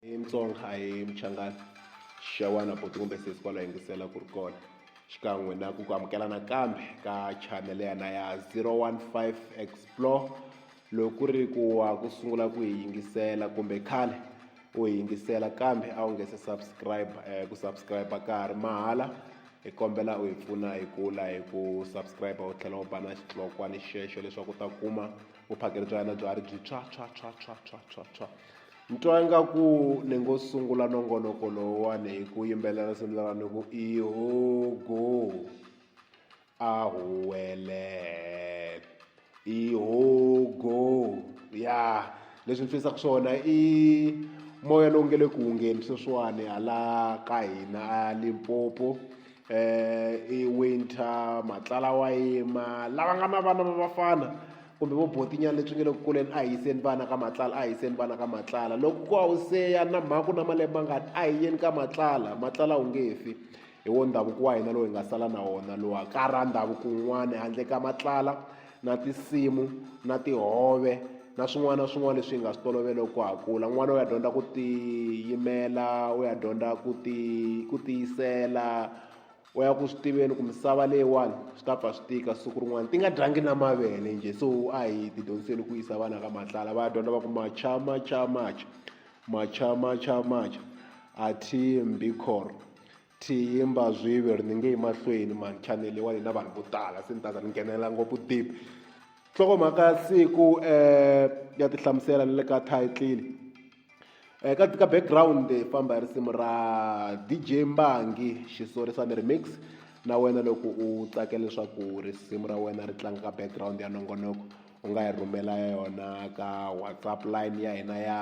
I Mutsonga a hi Muchangana xewani buti kumbe sesi kwala yingisela ku ri kona xikan'we na ku ku amukela nakambe ka chanele yana ya 015 explore loko ku ri ku wa ku sungula ku hi yingisela kumbe khale u hi yingisela kambe a wu nge se subscribe eh, ku subscribe ka ha ri mahala hi kombela u hi pfuna hi kula hi ku subscribe u tlhela u ba na xitlokwana xexo leswaku u ta kuma vuphakeri bya hina bya ri byi tshwa tshwa tshwa tshwa tshwa tshwa tshwa Ni twa ingaku ni ngo sungula nongonoko lowuwani hi ku yimbelela risimu lera ni ku i ho go a huwele i ho go ya leswi ni fisa ku swona i moya lowu nge le ku hungeni sweswiwani hala ka hina a Limpopo i winter matlala wa yima lava nga na vana va vafana kumbe vo botinyana leswi nge le ku kuleni a hi yiseni vana ka matlala a hi yiseni vana ka matlala loko ku a wu seya na mhaka na malembe ma ngani a hi yeni ka matlala matlala wu nge fi hi wo ndhavuko wa hina lowu hi nga sala na wona lowa ka ra ndhavuko wun'wani handle ka matlala. na tinsimu na tihove na swin'wana na swin'wana leswi hi nga swi tolovela ku ha kula n'wana u ya dyondza ku tiyimela u ya dyondza ku ti ku tiyisela u ya ku swi tiveni ku misava leyiwani swi ta pfa swi tika siku rin'wana ti nga dyangi na mavele njhe so a hi ti dyondziseni ku yisa vana ka matlala va ya dyondza va ku macha macha macha macha macha macha a team be core. Thimba Zwive ri ni nge emahlweni manchanele wa hina vanhu vo tala se ni ta za ni nghenelela ngopfu deep nhlokomhaka ya siku um ya ti hlamusela ni le ka title um ka ka background hi famba hi risimu ra dj mbangi xisori sa ni remix na wena loko u tsakela leswaku risimu ra wena ri tlanga ka background ya nongonoko u nga hi rhumela yona ka whatsapp line ya hina ya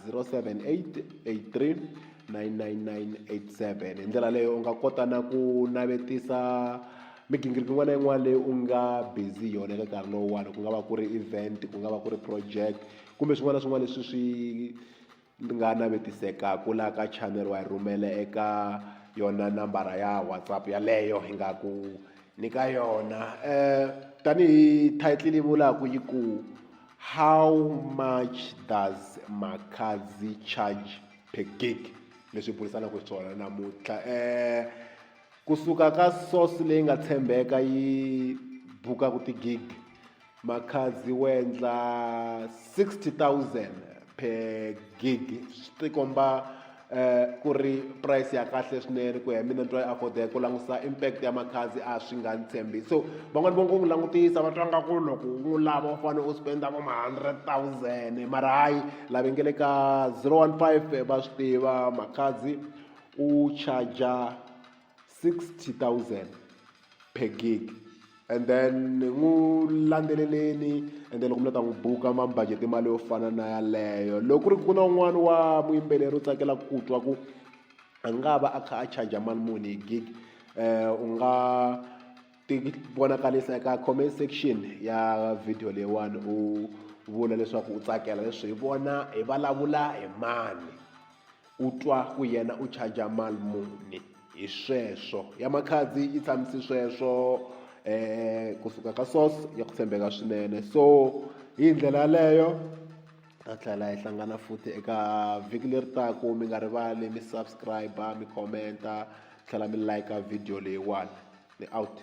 0788399987 hi ndlela leyo u nga kota na ku navetisa migingiriko yin'wana na yin'wana leyi u nga busy yona eka nkarhi lowuwani ku nga va ku ri event ku nga va ku ri project kumbe swin'wana na swin'wana leswi swi Ni nga navetiseka ku la ka channel wa yi rhumela eka yona nambara ya WhatsApp yaleyo hi nga ku nyika yona tanihi title yi vulaka yi ku how much does Makhadzi charge per gig leswi hi burisanaka hi swona namuntlha kusuka ka source leyi nga tshembeka yi bukaka ti-gig. Makhadzi wo endla 60,000 per gig swi tikomba eh ku ri price ya kahle swinene ku ya hi mina ni twa yi affordeka ku langusa impact ya makhadzi a swi nga ni tshembisi so van'wani vo ngo n'wi langutisa va twa nga ku loko u n'wi lava u fane u spend-a vo ma hundred thousand mara hayi lava nge le ka zero one five va swi tiva makhadzi u charger sixty thousand. per gig and then n'wi landzeleleni and then loko mi la ta n'wi buka ma mi budget mali yo fana na yaleyo loko ku ri ku na un'wana wa muyimbeleri u tsakela ku twa ku a nga va a kha a charge mali muni hi gig um u nga ti vonakarisa eka comment section ya video leyiwani u vula leswaku u tsakela leswi hi vona hi vulavula hi mani. U twa ku yena u charger mali muni hi sweswo ya makhadzi yi tshamisi sweswo um kusuka ka source ya ku tshembeka swinene so hi ndlela yaleyo ta tlhela hi hlangana futhi eka vhiki leri taku mi nga rivali mi subscribe mi commenta tlhela mi like video leyiwani ni out.